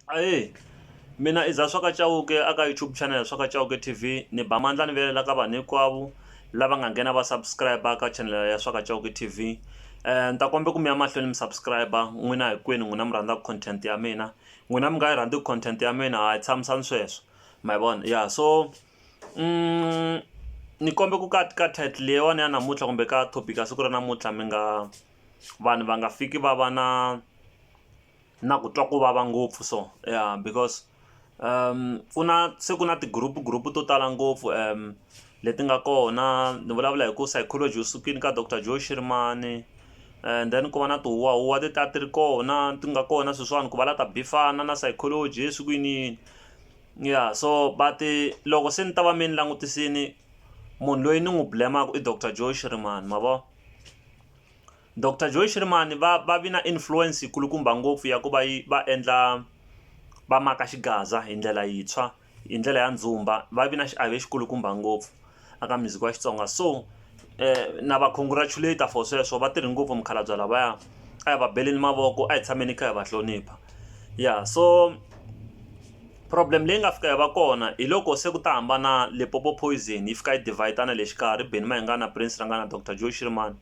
Ahee mina i Zaswaka Chauke a ka YouTube channel Zaswaka Chauke T_V ni ba mandla ni vilela ka vanhu hinkwavo lava nga nghena va subscriber ka channel ya Zaswaka Chauke T_V ni ta kombela ku mi ya mahlweni mi subscriber n'wina hinkwenu n'wina mi rhandzaka content ya mina n'wina mi nga yi rhandziku content ya mina ha yi tshamisani sweswo ma yi vona ya so ni kombela ku ka ka title leyiwani ya namuntlha kumbe ka topic ya siku ra namuntlha mi nga vanhu va nga fiki va va na. na ku twa ku vava ngopfu so ya because ku na se ku na ti group group to tala ngopfu leti nga kona ni vulavula hi ku psychology u sukile ka doctor Joe Shirimani and then ku va na ti huwa huwa ti ta ti ri kona ti nga kona sweswiwani ku va la ta bifana na psychology swi ku yini yini ya so but loko se ni ta va me ni langutisini munhu loyi ni n'wi blem-aku i doctor Joe Shirimani ma vo. Doctor Joy Shirimani va va vi na influence yi kulukumba ngopfu ya ku va yi va endla va maka xigaza hi ndlela yintshwa hi ndlela ya ndzumba va vi na xiave xi kulukumba ngopfu a ka music wa Xitsonga so na va congratulate for sweswo va tirhi ngopfu mukhalabye lavaya a hi va beleni mavoko a hi tshameni hi kha hi va hlonipha ya so problem leyi nga fika yi va kona hi loko se ku ta hambana Limpopo Poison yi fika yi divider na le xikarhi Benny Mayengani na Prince Ranga na Doctor Joy Shirimani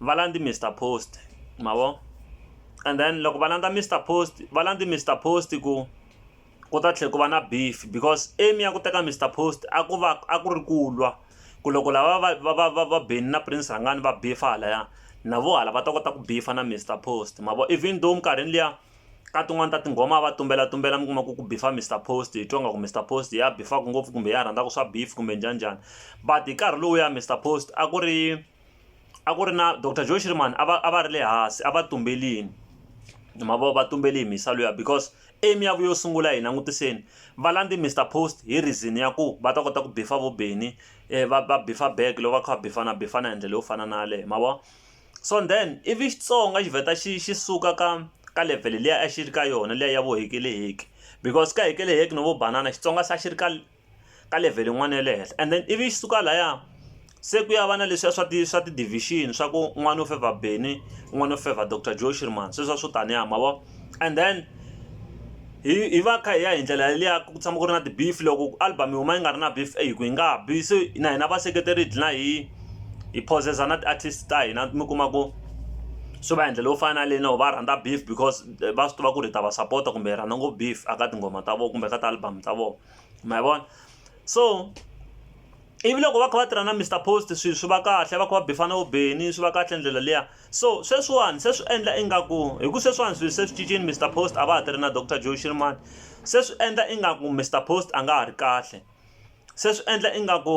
va landzi Mister Post ma vo and then loko va landza Mister Post va landzi Mister Post ku ku ta tlhela ku va na beef because aim ya ku teka Mister Post a ku va a ku ri ku lwa ku loko lava va va va va va Benny na Prince Rhangani va beef halaya na vo hala va ta kota ku beef na Mister Post ma vo even though minkarhini liya ka tin'wani ta tinghoma va tumbela tumbela mi kuma ku ku beef Mister Post hi twa nga ku Mister Post ya beef-aka ngopfu kumbe ya rhandzaka swa beef kumbe njhani njhani but hi nkarhi lowuya Mister Post a ku ri a ku ri na doctor joe shirman a va a va ri le hansi a va tumbelini ma vo va tumbeli hi mhisa luya because aim ya vu yo sungula hi langutiseni va landze mr post hi reason ya ku va ta kota ku bifa vo beni um va va bifa back loko va kha va bifana bifana hi ndlela yo fana na yaleyo ma vo so then ivi xitsonga xi vheta xi xi suka ka ka level liya a xi ri ka yona liya ya vo hekeleheke because ka hekeleheke no vo banana xitsonga se a xi ri ka ka level yin'wana ya le henhla and then ivi yi suka laya se ku ya va na leswiya swa ti swa ti division swa ku n'wana u fevha Benny n'wana u fevha Doctor Joe Shirimani sweswiya swo taniya ma vo and then hi hi va kha hi ya hi ndlela yeliya ku tshama ku ri na ti beef loko album yi huma yi nga ri na beef eyi ku yi nga ha bi se na hina vaseketeri hi dlina hi hi phozeza na ti artist ta hina mi kuma ku swi va hi ndlela yo fana na leyinene or va rhandza beef because va swi tiva ku ri hi ta va sapota kumbe hi rhandza ngopfu beef a ka tinghoma ta vona kumbe ka ti-album ta vona. ma vona so ivi loko va kha va tirha na mr post swi swi va kahle va kha va bifana vo beni swi va kahle ndlela liya so sweswiwani se swi endla ingaku hi ku sweswiwani swi se swi cincini mr post a va ha tirhi na doctor joe shirimani se swi endla ingaku mr post a nga ha ri kahle se swi endla ingaku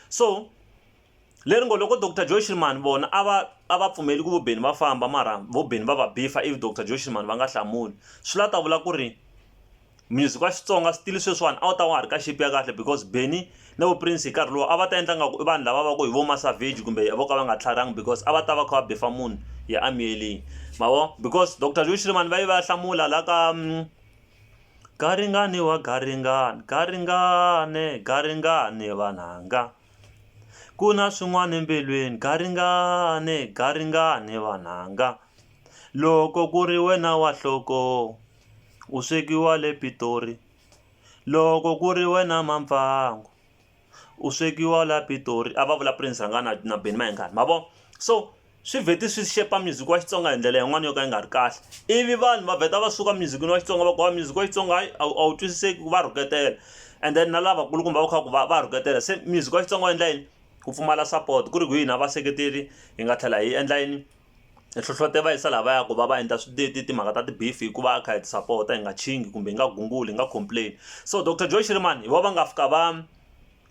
So, leri ngo loko Doctor Joe Shirimani vona a va a va pfumeli ku vo Benni va famba mara vo Benni va va bifa ivi Doctor Joe Shirimani va nga hlamuli swi la ta vula ku ri music wa Xitsonga still sweswiwani a wu ta wa ha ri ka shape ya kahle because Benni na vo Prince hi nkarhi lowu a va ta endla nga ku i vanhu lava va ku hi vo Masavage kumbe vo ka va nga tlharihanga because a va ta va kha va bifa munhu ya a miyelini ma vo because Doctor Joe Shirimani va yi va ya hlamula la ka. Garingani wa garingani, garingani, garingani vananga ku na swin'wana embilwini garingani, garingani vananga loko ku ri wena wa nhloko u swekiwa le Pitori loko ku ri wena Mampfangu. U swekiwa la Pitori a va vula Prince Rhanga na na Benny Mayengani ma vo so swi vheti swi xepa music wa Xitsonga hi ndlela yin'wana yo ka yi nga ri kahle ivi vanhu va vheta va suka music-ini wa Xitsonga va ku hayi music wa Xitsonga hayi a wu a wu twisiseki va rhuketela and then na lavakulukumba va kha ku va va rhuketela se music wa Xitsonga wu endla yini ku pfumala support ku ri ku hina vaseketeri hi nga tlhela hi endla yini. hi hlohletela va yisa laha va yaka va va endla timhaka ta ti-beef hikuva a kha hi ti sapota hi nga nkhingi kumbe hi nga gunguli hi nga complain so doctor Joe Shirimani hi vona va nga fika va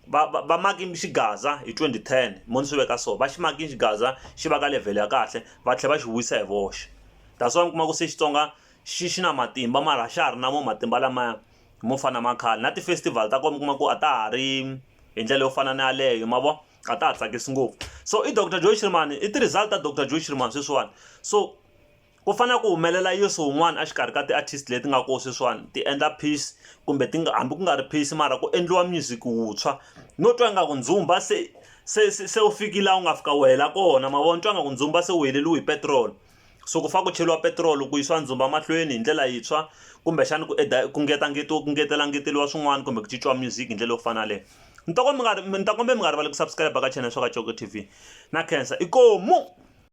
va va va maki xigaza hi twenty ten mo ni swi veka so va xi maki xigaza xi va ka level ya kahle va tlhela va xi vuyisa hi voxe that's why mi kuma ku se Xitsonga xi xi na matimba mara a xa ha ri na mo matimba lamaya mo fana na ma khale na ti-festival ta kona mi kuma ku a ta ha ri hi ndlela yo fana na yaleyo ma vo. a ta ha tsakisi ngopfu so i doctor joy shirimani i ti-result ta doctor joy shirimani sweswiwani so ku fanele ku humelela yesu wun'wana exikarhi ka ti-artist leti nga kona sweswiwani ti endla peace kumbe ti nga hambi ku nga ri peace mara ku endliwa music wuntshwa no twa ingaku ndzumba se se se se wu fikile laha wu nga fika wu hela kona ma vona twa ingaku ndzumba se wu heleriwe hi petiroli So ku fanele ku cheriwa petiroli ku yisiwa ndzumba mahlweni hi ndlela yintshwa kumbexana ku ku ku ngetela ngeteriwa swin'wana kumbe ku cinciwa music hi ndlela yo fana na yaleyo ni ta ku mi nga ni ta kombela mi nga rivali ku subscribe ka channel ya swa ka Coco T_V na khensa inkomu.